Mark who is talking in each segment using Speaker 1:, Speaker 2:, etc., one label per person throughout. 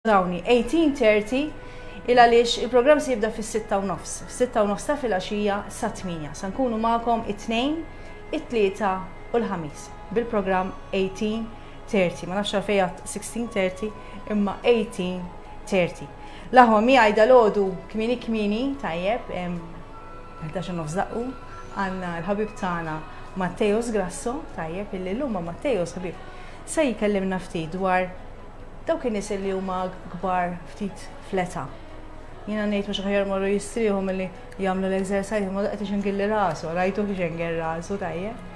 Speaker 1: Dawni, 18:30, il għaliex il-programm se jibda fis-sitta u nofs. Sitta u nofs ta' filgħaxija sa tmienja. Se nkunu magħkom it-Tnejn, it-Tlieta u l-Ħamis bil-programm 18:30. Ma nafx għalfejn għadt 16:30 imma 18:30. L-aħwa miegħi dalgħodu kmieni kmieni tajjeb hemm 11 u nofs daqqu għandna l-ħabib tagħna Matteos Grasso tajjeb illi llum ma' Matteos ħabib se jkellimna ftit dwar Dawk in-nies li huma kbar ftit fl-età. Jiena ngħid mhux aħjar morru jistrieħu milli jagħmlu l-exercise imma qed ixingilli rasu, rajtu kif xenger rasu tajjeb.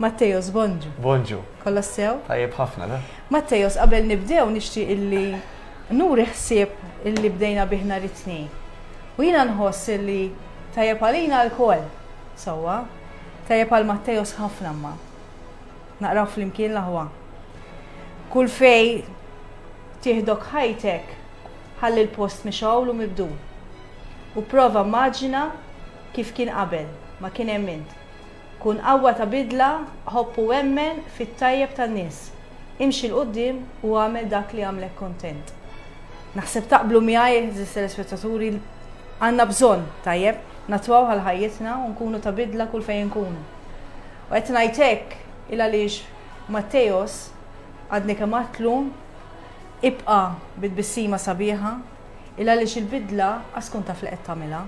Speaker 1: Mattejos, bonġu. Bonġu. Kollha sew? Tajjeb ħafna da. Mattejos, qabel nibdew nixtieq illi nuri ħsieb illi bdejna bih nhar it-Tnejn. U jiena nħoss illi tajjeb għalina lkoll sewwa. Tajjeb għal Mattejos ħafna imma. Naqraw flimkien l-aħwa. Kull fej tieħdok ħajtek, ħalli l-post mixgħul u mibdul. U prova mmaġina kif kien qabel ma kien hemm int. Kun qawwa ta' bidla, ħobb u emmen fit-tajjeb tan-nies. Imxi 'l quddiem u agħmel dak li jagħmlek kuntent. Naħseb taqblu miegħi, għeżież telespettaturi, għandna bżonn, tajjeb, nattwaw għal ħajjitna u nkunu ta' bidla kull fejn inkunu. U qed ngħid hekk il għaliex Matteos għadni kemm għadtlu ibqa' bi tbissima sabiħa il għaliex il-bidla qas tkun taf li qed tagħmilha.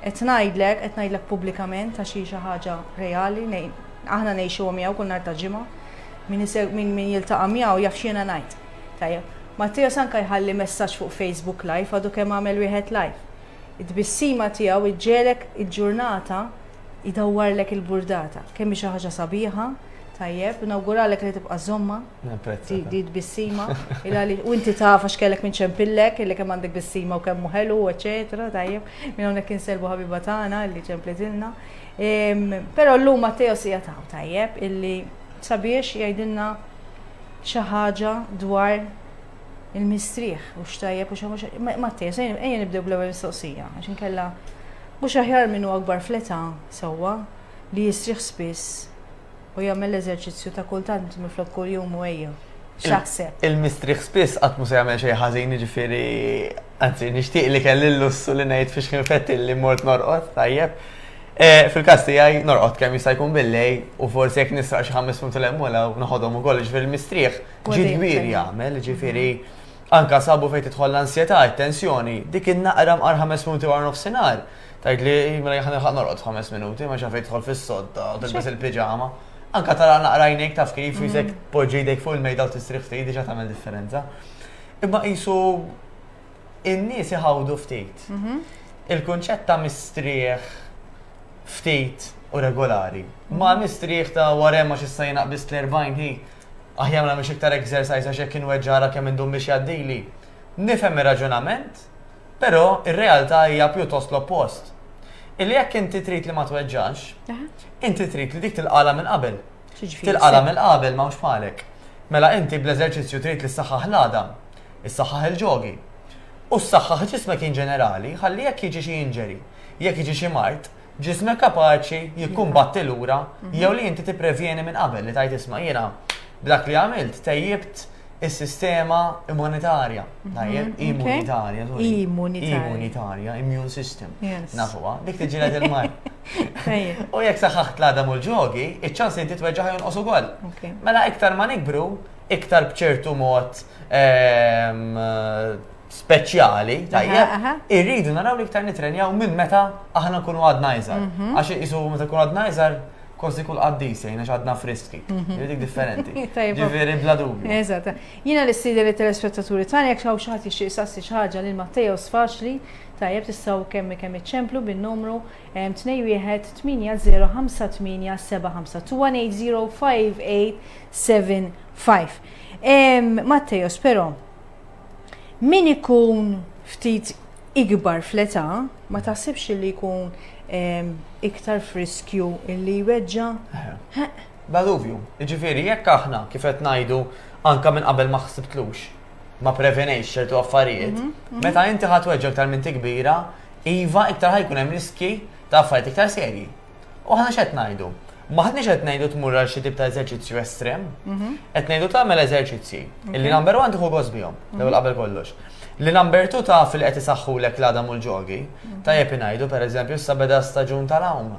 Speaker 1: Qed ngħidlek, qed ngħidlek pubblikament għax hi xi ħaġa reali, aħna ngħixuha miegħu kull nhar ta' ġimgħa. Min, min, min jiltaqa' miegħu jaf x'jiena ngħid. Tajjeb. Matteo Sanka jħalli messaġġ fuq Facebook Live għadu kemm għamel wieħed live. It-tbissima tiegħu iġġelek il-ġurnata Idawwarlek il-burdata. Kemm hi xi ħaġa sabiħa, tajjeb, nawguralek li tibqa' żommha. Napprezza. Di bissima. U inti taf għax kellek minn ċempillek, li kemm għandek bissima u kemm ħelu, eċetera, tajjeb. Minn hawnhekk inselbu ħabiba tagħna li ċemplitilna. Però llum Matteo sija taw tajjeb illi sabiex jgħidilna xi ħaġa dwar il-mistrieħ u x'tajjeb u xi Matteo, ejja nibdew bl-ewwel mistoqsija għax inkella Mhux aħjar min hu akbar fl-età, sewwa, li jistrieħ spiss u jagħmel l-eżerċizzju ta' kultant minflok kuljum u ejja? X'taħseb? Il-mistrieħ spiss qatt mhu se jagħmel xejn ħażin, jiġifieri anzi nixtieq li kelli l-lussu li ngħid fiex ħinfetti li mort norqod tajjeb. Eh, fil-każ tiegħi norqod kemm jista' jkun billej u forsi jekk nisraq xi ħames punt l-hemm u noħodhom ukoll ġifieri l-mistrieħ ġid kbir jagħmel, ġifieri Anka sabu fejn tidħol l-ansjetà, it-tensjoni, dik in-naqra mqar ħames minuti wara nofsinhar, tgħidli mela jien ħa nilħaq norqod f'ħames minuti, ma x'għalfejn tidħol fis-sodda u tilbes il-piġama. Anka tagħlaq naqra għajnejk taf kif, u jisek tpoġġi jdejk fuq il-mejda u tistrieħ ftit diġà tagħmel differenza. Imma qisu in-nies iħawdu ftit. Il-kunċett ta' mistrieħ ftit u regolari, ma' mistrieħ ta' wara hemm għax issa jien aqbiżt l-40 hi, Aħjar ma nagħmilx iktar exercise għax hekk inweġġagħlha kemm indum biex jgħaddili. Nifhem ir-raġunament, però r-realtà hija pjuttost l-oppost. Illi jekk inti trid li ma tweġġax, inti trid li dik tilqagħlha minn qabel. Tilqagħlha mill-qabel m'hawnx bħalek. Mela inti bl-eżerċizzju trid li ssaħħaħ l-għadam, issaħħaħ il-ġogi. U ssaħħaħ ġismek in ġenerali ħalli jekk jiġi xi injury, jekk jiġi xi mard, ġismek kapaċi jikkumbatti lura mhm. jew li inti tipprevjeni minn qabel li tajt isma' jiena b'dak li għamilt tejjibt is-sistema immunitarja. Mhm. Tajjeb, immunitarja. Immunitarja, immune system. Nafuha, dik tiġilet il-mar. U jekk saħħaħt l-għadam u l-ġogi, iċ-ċans li titweġġa jonqos ukoll. Mela iktar ma nikbru, iktar bċertu mod ehm, speċjali, tajjeb, irridu naraw li iktar nitrenjaw minn meta aħna nkunu għadna iżgħar. Mhm. Għax isu meta nkunu għadna iżgħar kosti kull qaddis jgħin għax għadna friski. Mhm. Jidik differenti. Ġifieri bla dubju. Eżatt. Jiena li sidi li telespettaturi tani jekk xi ħadd jixtieq sassi xi ħaġa lil Matteos faċli tajjeb tistgħu kemm kemm iċċemplu bin-numru 2158575 Mattejos però min ikun ftit ikbar fl-età ma taħsibx li jkun ehm, iktar friskju illi jweġġa? Baluvju, ġifiri, jekk aħna kif qed ngħidu anka minn qabel ma ħsibtlux, ma prevenejx ċertu affarijiet, mhm, mhm. meta inti ħadd weġġa iktar minn tikbira, iva iktar ħajkun hemm riski ta' affarijiet iktar serji. U aħna x'qed ngħidu? Maħniex qed ngħidu tmur għal xi tip ta' eżerċizzju estrem, mhm. qed ngħidu tagħmel eżerċizzji. Illi number one tieħu gost bihom, mhm. l qabel kollox. Li number two ta' fil qed isaħħu lek l-għadam u l-ġogi, mhm. ta' jepi ngħidu pereżempju issa beda staġun tal-hawn.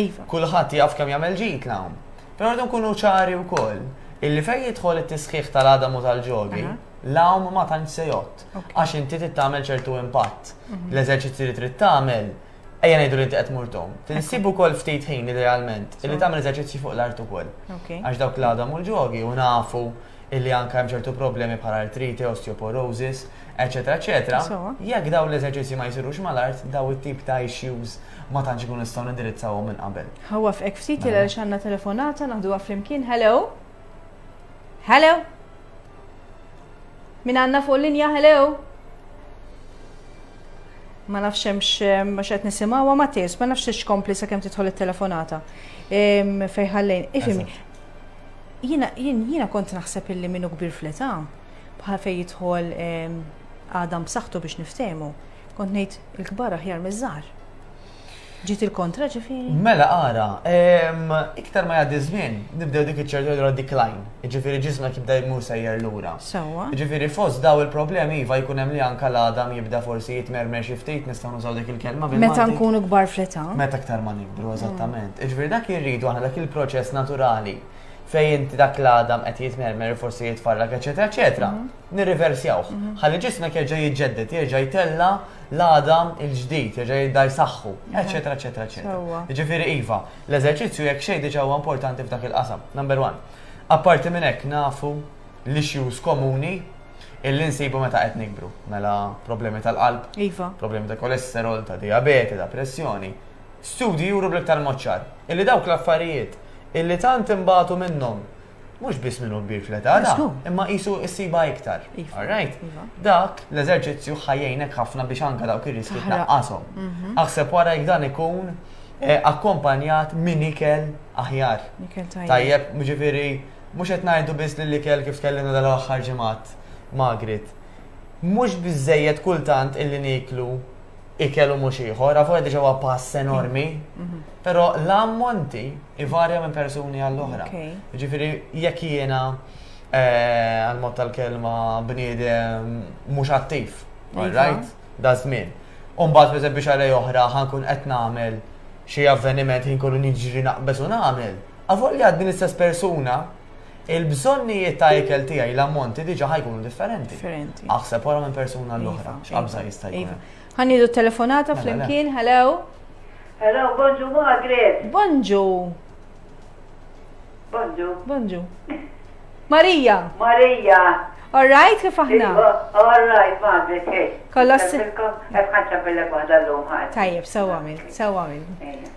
Speaker 1: Iva. Kulħadd jaf kemm jagħmel ġid l-hawn. Però rridu nkunu ċari wkoll illi fejn jidħol it-tisħiħ tal-għadam u tal-ġogi, l-hawn ma tantx se jott. Għax inti tagħmel ċertu impatt. L-eżerċizzji li trid tagħmel Ejja ngħidu li inti qed mur tom. Tinsib ukoll ftit ħin idealment li tagħmel eżerċizzji fuq l-art ukoll. Għax dawk li għadhom u l-ġogi u nafu illi anke hemm ċertu problemi bħal artrite, osteoporosis, eċetera, eċetera. Jekk dawn l-eżerċizzji ma jsirux mal-art, daw it-tip ta' issues ma tantx ikun nistgħu nindirizzawhom minn qabel. Ħawa f'hekk ftit il mela. għandna telefonata naħduha flimkien. Hello? Hello? Min għandna fuq linja hello? Ma nafx hemmx ma x'qed nisimgħu ma tis, ma nafx tix kompli sakemm tidħol it-telefonata. Fejn ħallejn, ifhimni. Jiena jiena kont naħseb illi minnu kbir fl-età bħal fejn jidħol għadam b'saħħtu biex niftehmu. Kont ngħid il-kbar aħjar miż-żgħar. Ġiet il-kontra ġifieri? Mela ara, ehm, iktar ma jgħaddi żmien, nibdew dik iċ-ċertu jgħidu decline, ġifieri ġisma jibda jmur sejjer lura. Sewwa. Ġifieri fost daw il-problemi iva jkun hemm li anka l-għadam jibda forsi jitmermer xi ftit nistgħu nużaw dik il-kelma bil Meta nkunu kbar fl-età. Meta aktar ma nikbru mm. eżattament. Ġifieri dak irridu aħna dak il-proċess naturali fejn inti dak l-għadam qed jitmermer forsi jitfarrak eċetera eċetera. Mm. nirriversjawh, ħalli ġismek jerġa' jiġġedded, jerġa' jtella' l-għada l-ġdid, jerġa' jibda jsaħħu, eċċetera, eċċetera, eċċetera. Jiġifieri iva, l-eżerċizzju jekk xejn diġà huwa importanti f'dak il-qasam, number one. Apparti minn hekk nafu l-issues komuni illi nsibu meta qed nikbru, mela problemi tal-qalb, iva. problemi ta' kolesterol, ta' dijabete, ta' pressjoni. Studji juru bl-iktar mod ċar illi dawk l-affarijiet illi tant inbagħtu minnhom mhux biss minn hu kbir fl-età, la, imma qisu ssibha iktar. Iva, All right? iva. Dak l-eżerċizzju ħajjejnek ħafna biex anka dawk ir-riski Taħraq. tnaqqashom. Mhm. Aħseb wara jekk dan ikun eh, akkompanjat minn ikel aħjar. Ikel tajjeb. Tajjeb, ġifiri, mux qed ngħidu biss li l-ikel kif tkellimna dal-aħħar ġimgħat Magrit. Mhux biżejjed kultant illi niklu ikel u mhux ieħor, għafu għedġa huwa pass enormi, mhm. però l-ammonti ivarja minn persuni għall-oħra. Ġifiri, jekk jiena eh, għal-mod tal-kelma bniedem mhux attiv, iva. right? Da żmien. Umbat, per biex għalej oħra, ħankun qed nagħmel xi avveniment ħin kollu niġri naqbes u nagħmel. Għafu li għad din istess persuna il-bżonnijiet ta' ikel tiegħi l-ammonti diġa ħa jkunu differenti. Differenti. Aħseb wara minn persuna l-oħra, iva, x'qabża iva, jista' jkun. Iva. Ħanidu telefonata mela, flimkien, hello. Hello, bonġu Margaret. Bonġu. Bonġu. Bonġu. Marija. Marija. All right, kif aħna? Iva, all right, Margaret, hej. Kolla s-sirkom. Għafħanċa bellek wahda l-lum ħad. Tajjeb, sewa minn, sewa minn.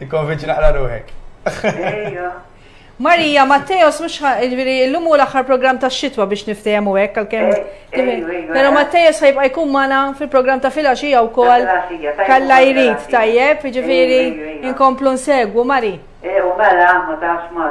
Speaker 1: Ikkonvinċi naqra ruħek. Ejja. Marija, Matteos, mux ġviri, l-lum u l-axar program ta' xitwa biex niftajem u għek, għal-kem. Pero Matteos ħajbqa jkun mana fil-program ta' filaxija u kol. Kalla jrid, tajjeb, ġviri, inkomplu nsegwu, Mari. E, u mela, ma tafx ma,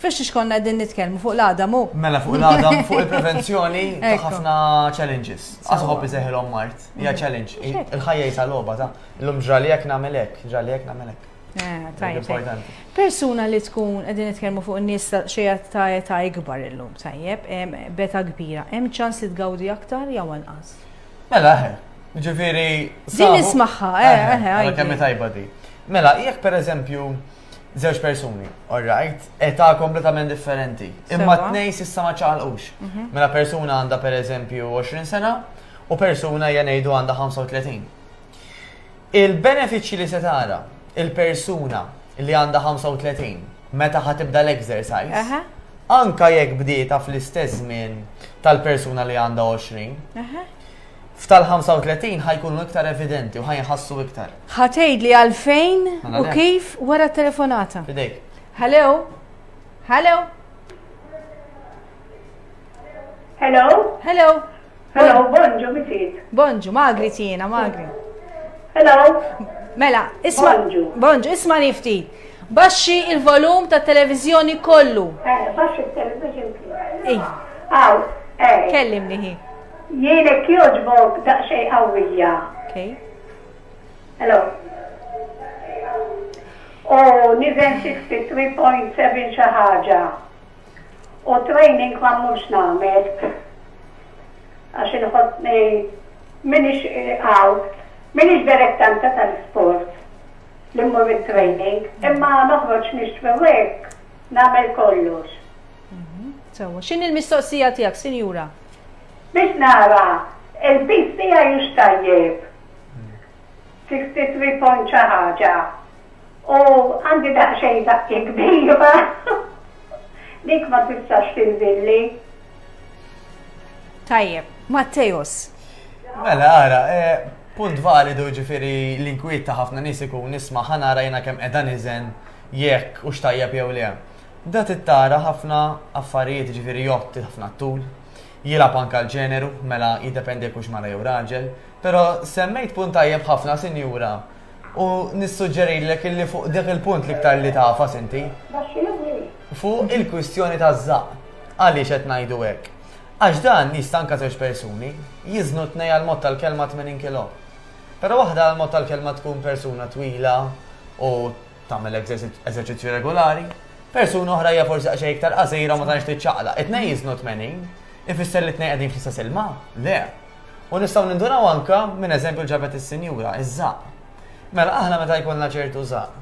Speaker 1: Fiex xiex konna qegħdin nitkellmu fuq l-għadam hu? Mela fuq l-għadam, fuq il-prevenzjoni ta' ħafna challenges. Għasħob iseħilhom mart, hija mm. challenge. Il-ħajja jisa logħba ta' illum ġrali hekk nagħmel hekk, ġrali hekk nagħmel hekk. Eh, Persuna li tkun qegħdin nitkellmu fuq in-nies xejja ta' età ikbar illum tajjeb, beta kbira, hemm ċans li tgawdi aktar jew anqas. Mela eħe, eh, ġifieri. Din ismaħħa, eħe, eh, eħe. Kemm tajba di. Mela, jekk pereżempju Żewġ persuni, all right, età kompletament differenti. Imma t-nej sissa ma ċaqalqux. Mhm. Mela persuna għandha per eżempju 20 sena u persuna jenejdu għandha 35. Il-benefiċċji li se tara il-persuna li għandha 35 meta ħatibda l-exercise, anka jekk bdieta fl-istess żmien tal-persuna li għandha 20, F'tal-35 ħa jkunu iktar evidenti u ħa jinħassu iktar. Ħa tgħidli għalfejn u kif wara t-telefonata. Fidejk. Hello? Hello? Hello? Hello? Hello, bonġu, misit. Bonġu, magri tina, magri. Hello? Mela, isma. Bonġu. Bonġu, isma li ftit. Baxxi il-volum ta' televizjoni kollu. Eh, baxxi il-televizjoni. Ej. Aw, eh. Kellimni hi. Jien hekk jogħġbok daqsxejn qawwija. Okay. Hello. U niżel xi ftit 3.7 xi ħaġa. U training ma mhux nagħmel. Għax inħossni minix għaw, minix direttanta tal-sport li mmur il-training, imma noħroġ nixtri wek, namel kollox. Mhm. Sewa, xin il-mistoqsija tijak, sinjura? Biex nara, il-piż tiegħi hux tajjeb. Xi ftit trid tgħomm xi ħaġa. U għandi daqsxejn żaqqi kbira. Dik ma tistax tinżilli. Tajjeb, Matteus. Mela, ara, eh, punt validu ġifiri l-inkwiet ta' ħafna nies ikun nisma' ħanara jiena kemm qiegħda niżen jekk u xtajjeb jew le. Da trid tara ħafna affarijiet, jiġifieri jgħodd ħafna t-tul, jilgħab anke l-ġeneru, mela jiddependi jekk hux mara jew raġel. Però semmejt punt tajjeb ħafna sinjura u nissuġġerilek illi fuq dak il-punt l-iktar li tagħfas inti. Fuq il-kwistjoni taż-żaqq. Għaliex qed ngħidu hekk? Għax dan jista' anke żewġ persuni jiżnu t-tnejn għal mod tal-kelma 80 kilo. Però waħda għal mod tal-kelma tkun persuna twila u Tagħmel eżerċizzju regolari. Persuna oħra hija forsi għaxej iktar qasira ma tantx tiċċaqla. It-tnejn jiżnu 80. Ifisser li t-tnejn qegħdin fl-istess ilma? Le. U nistgħu ninduraw anka minn eżempju ġabet is-sinjura, iż-żaq. Mela aħna meta jkollna ċertu żaq.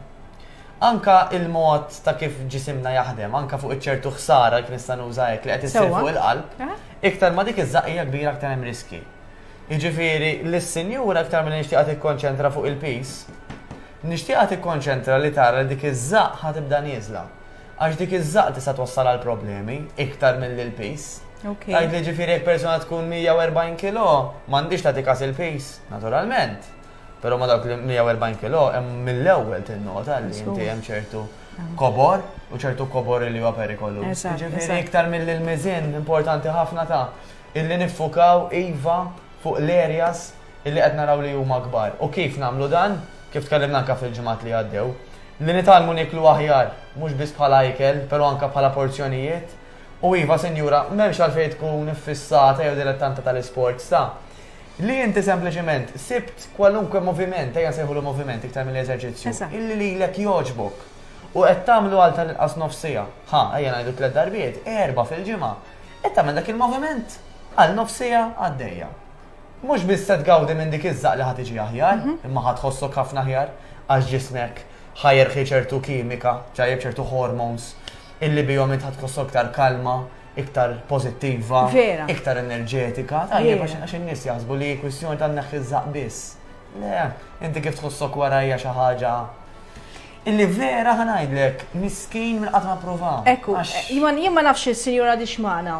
Speaker 1: Anka il-mod ta' kif ġisimna jaħdem, anka fuq iċ-ċertu ħsara kif nista' nuża hekk li qed issir fuq il-qalb, eh? iktar ma dik iż-żaq hija kbira aktar hemm riski. Jiġifieri l-sinjura aktar minn nixtieqha tikkonċentra fuq il-peace, Nixtieqha tikkonċentra li tara li dik iż-żaqq ħa tibda nieżla. Għax dik iż-żaqq tista' twassal għal problemi, iktar milli l-piż. Tgħidli jiġifieri jekk persuna tkun 140 kilo, m'għandhiex tagħti kas il-piż? Naturalment. Però ma' dawk il-140 kilo hemm mill-ewwel tinnota li inti hemm ċertu kobor u ċertu kobor li huwa perikoluż. Jiġifieri iktar milli l-miżien importanti ħafna ta' illi niffukaw iva fuq l-areas illi qed naraw li huma kbar. U kif nagħmlu dan? Kif tkellimna anke fil-ġimgħat li għaddew. Li nitgħallmu nieklu aħjar, mhux biss bħala ikel, però anke bħala porzjonijiet. U iva, sinjura, m'hemmx għalfejn tkun iffissata jew dilettanta tal-isports, ta. Li inti sempliċement sibt kwalunkwe moviment, ejja nsejħulu moviment iktar milli eżerċizzju, illi lilek jogħġbok. U qed tagħmlu għal tal-inqas nofs siegħa. Ħa, ejja ngħidu tliet darbiet, erbgħa fil-ġimgħa. Qed tagħmel dak il-moviment għal nofs siegħa għaddejja. Mhux biss se tgawdi minn dik iż-żaqq li ħa tiġi aħjar, imma ħa tħossok ħafna aħjar għax ġismek ħa jirħi ċertu kimika, ġajjeb ċertu hormones illi bihom int ħa tħossok iktar kalma, iktar pożittiva, iktar enerġetika. Tajjeb għax in-nies jaħsbu li kwistjoni ta' nneħħi ż-żaqq biss. Le, inti kif tħossok wara hija xi ħaġa. Illi vera ħa ngħidlek, miskin minn qatt ma pprova. Ekku, jien ma nafx il-sinjura di xmana.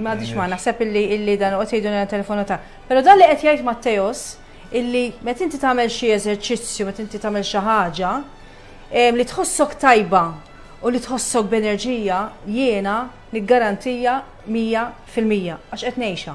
Speaker 1: Ma di xmana, sepp illi dan u għotejdu għan telefonu ta' Pero dan li qed jgħid Matteos, illi met inti tagħmel xi eżerċizzju, met inti tagħmel xi ħaġa, li tħossok tajba u li tħossok b'enerġija jiena niggarantija 100% għax qed ngħixha.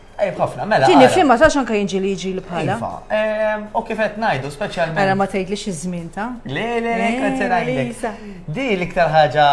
Speaker 1: Ejb ħafna, mela. Tieni fim ma tax anke jinġi li jiġi li bħala. Iva, ehm, u kif qed ngħidu speċjalment. Ara mela, ma tgħidlix iż-żmien ta'. Le, le, le, kanzi eh, ngħidlek. Di l-iktar ħaġa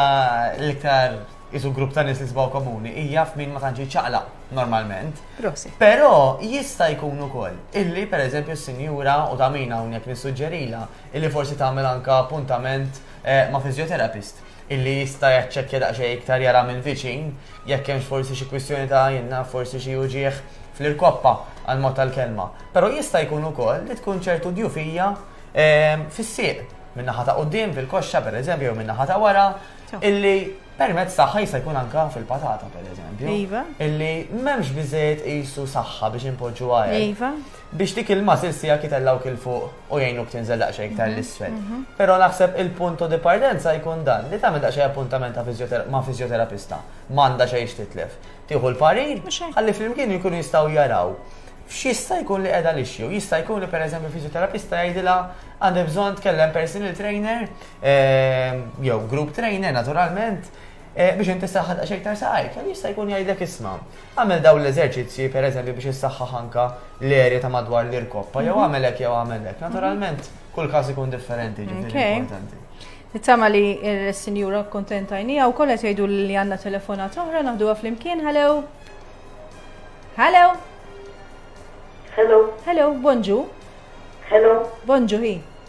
Speaker 1: l-iktar isu grupp ta' nies li sbaw komuni hija f'min ma tantx ċaqla normalment. Prosi. Però jista' jkun ukoll illi pereżempju s-sinjura u ta' min hawnhekk nissuġġerila illi forsi tagħmel anka appuntament eh, ma' fizjoterapist illi jista' jaċċekkja daqsxejn iktar jara mill-viċin jekk hemmx forsi xi kwistjoni ta' jien naf forsi xi uġigħ fl-irkoppa għall-mod tal-kelma. Però jista' jkun ukoll li tkun ċertu djufija fis-sieq, min-naħa ta' quddiem fil-koxxa pereżempju jew min-naħa ta' wara, illi permezz tagħha jista' jkun anke fil-patata pereżempju, illi m'hemmx biżejjed qisu saħħa biex inpoġġuha hekk. biex dik il-muscle sija kitellawk il-fuq u jgħinuk tinżel daqsxejn iktar mhm, l-isfel. Mhm. Però naħseb il-punto di partenza jkun dan li tagħmel daqsxejn appuntament ma' fizjoterapista. M'għandha xejn xtitlef. Tieħu l-parir, ħalli flimkien jkunu jistgħu jaraw x'jista' jkun li qiegħda lixxu. Jista' jkun li pereżempju fiżjoterapista jgħidilha għandha bżonn tkellem personal trainer eh, jew group trainer naturalment eh, biex inti saħħad għax iktar saqajk, jista' jkun jgħidlek isma'. Agħmel dawn l-eżerċizzji, per eżempju, biex issaħħaħ anke l-erja ta' madwar l-irkoppa, jew agħmel hekk jew agħmel hekk. Naturalment, kull każ ikun differenti, ġifieri importanti. Nittama li s-sinjura kuntenta għajnija u kollha tgħidu li għandna telefonat oħra naħduha flimkien. Hello. Hello. Hello. Hello, bonġu. Hello. Bonġu hi.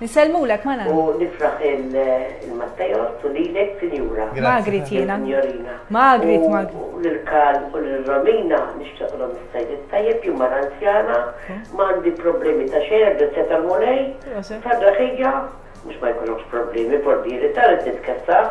Speaker 1: Nisellmulek ma' Nanna. U nifraħ lil Matteos u lilek Sinjura. Magrit jiena. Lil Signorina. Magrit, Magrit. U lil Karl u lil Romina nixtieqlhom is-Sajd it-Tajjeb, jien mara anzjana, ma għandi problemi ta' xejn għall-grazzja tal-Mulej, fil-ferraħija, mhux ma jkollokx problemi, portieri, tara li titkessaħ,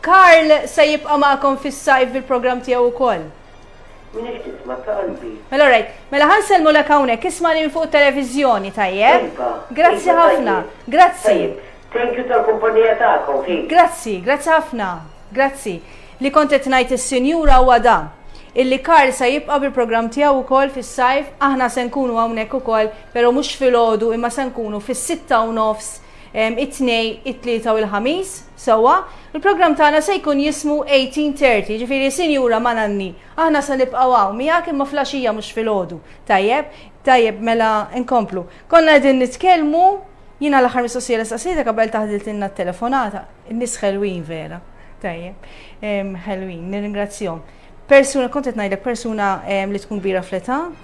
Speaker 1: Karl se jibqa' magħkom fis-sajf bil-programm tiegħu wkoll. Min qed jisma' ta' qalbi. Mela alright, mela ħa nsellmulek hawnhekk, ismagħni minn fuq it-televiżjoni, tajjeb? Iva. Grazzi ħafna. Grazzi. Tajjeb. Thank you tal-kumpanija tagħkom, hi. Grazzi, grazzi ħafna. Grazzi. Li kont qed ngħid is-sinjura huwa dan, illi Karl se jibqa' bil-programm tiegħu wkoll fis-sajf, aħna se nkunu hawnhekk ukoll, però mhux filgħodu imma se nkunu fis-sitta u nofs it-Tnejn, it-Tlieta u l-Ħamis. Sewwa, il-programm tagħna se jkun jismu 1830, jiġifieri Sinjura ma' Nanni, aħna se nibqgħu hawn miegħek imma fl-għaxija mhux filgħodu. Tajjeb? Tajjeb, mela nkomplu. Konna qegħdin nitkellmu, jiena l-aħħar mistoqsija li staqsejtek qabel taħdiltilna t-telefonata. In-nies ħelwin vera. Tajjeb. Ħelwin, nirringrazzjahom. Persuna, kont qed ngħidlek persuna li tkun kbira fl-età,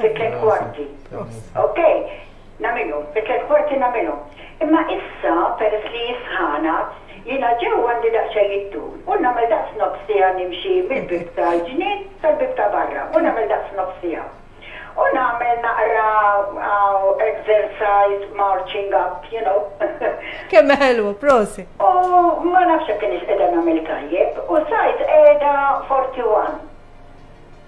Speaker 1: fi tliet kwarti. Ok, nagħmilhom, fi tliet kwarti nagħmilhom. Imma issa peress li hi sħana, jiena ġewwa għandi daqsxejn iddur u nagħmel daqs nofs siegħa nimxi mill-bieb tal-ġnien sal-bieb ta' barra u nagħmel daqs nofs siegħa. U nagħmel naqra exercise marching up, you know. Kemm ħelwa, prosit! U ma nafx jekk kienx qiegħda nagħmel tajjeb u sajt qiegħda 41.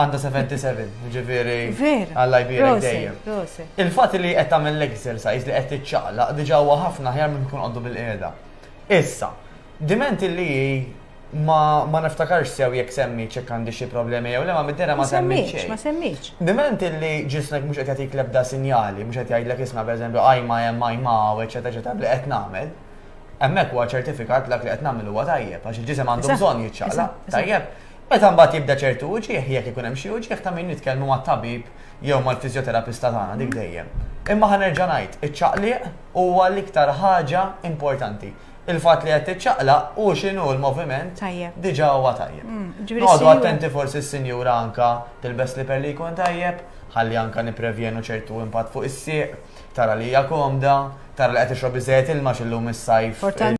Speaker 1: Għanda 77, ġifiri. Vera. Għalla jbira dejjem. Il-fat li qed tagħmel l-exercise li qed tiċċaqlaq diġà huwa ħafna ħjar minn tkun għoddu bil-qiegħda. Issa, diment li ma ma niftakarx sew jekk semmi ċek għandi xi problemi jew le ma middera ma semmiċ. Ma semmiċ. Diment li ġismek mhux qed jagħtik l-ebda sinjali, mhux qed jgħidlek isma' pereżempju għajma hemm għajma u eċetera eċetera li qed nagħmel. Hemmhekk huwa ċertifikat l li qed nagħmel huwa tajjeb għax il-ġisem għandu bżonn jiċċaqla. Tajjeb. Meta mbagħad jibda ċertu uġigħ, jekk ikun hemm xi uġigħ ta' min nitkellmu mat-tabib jew mal-fiżjoterapista tagħna dik dejjem. Imma ħa nerġa' ngħid, iċ-ċaqliq huwa l-iktar ħaġa importanti. Il-fatt li qed tiċċaqlaq u x'inhu l-moviment diġà huwa tajjeb. Noqogħdu attenti forsi s-sinjura anke tilbes sliper li jkun tajjeb, ħalli anke nipprevjenu ċertu impatt fuq is-sieq, tara li hija komda, tara li qed tixrob biżżejjed ilma għax illum is-sajf.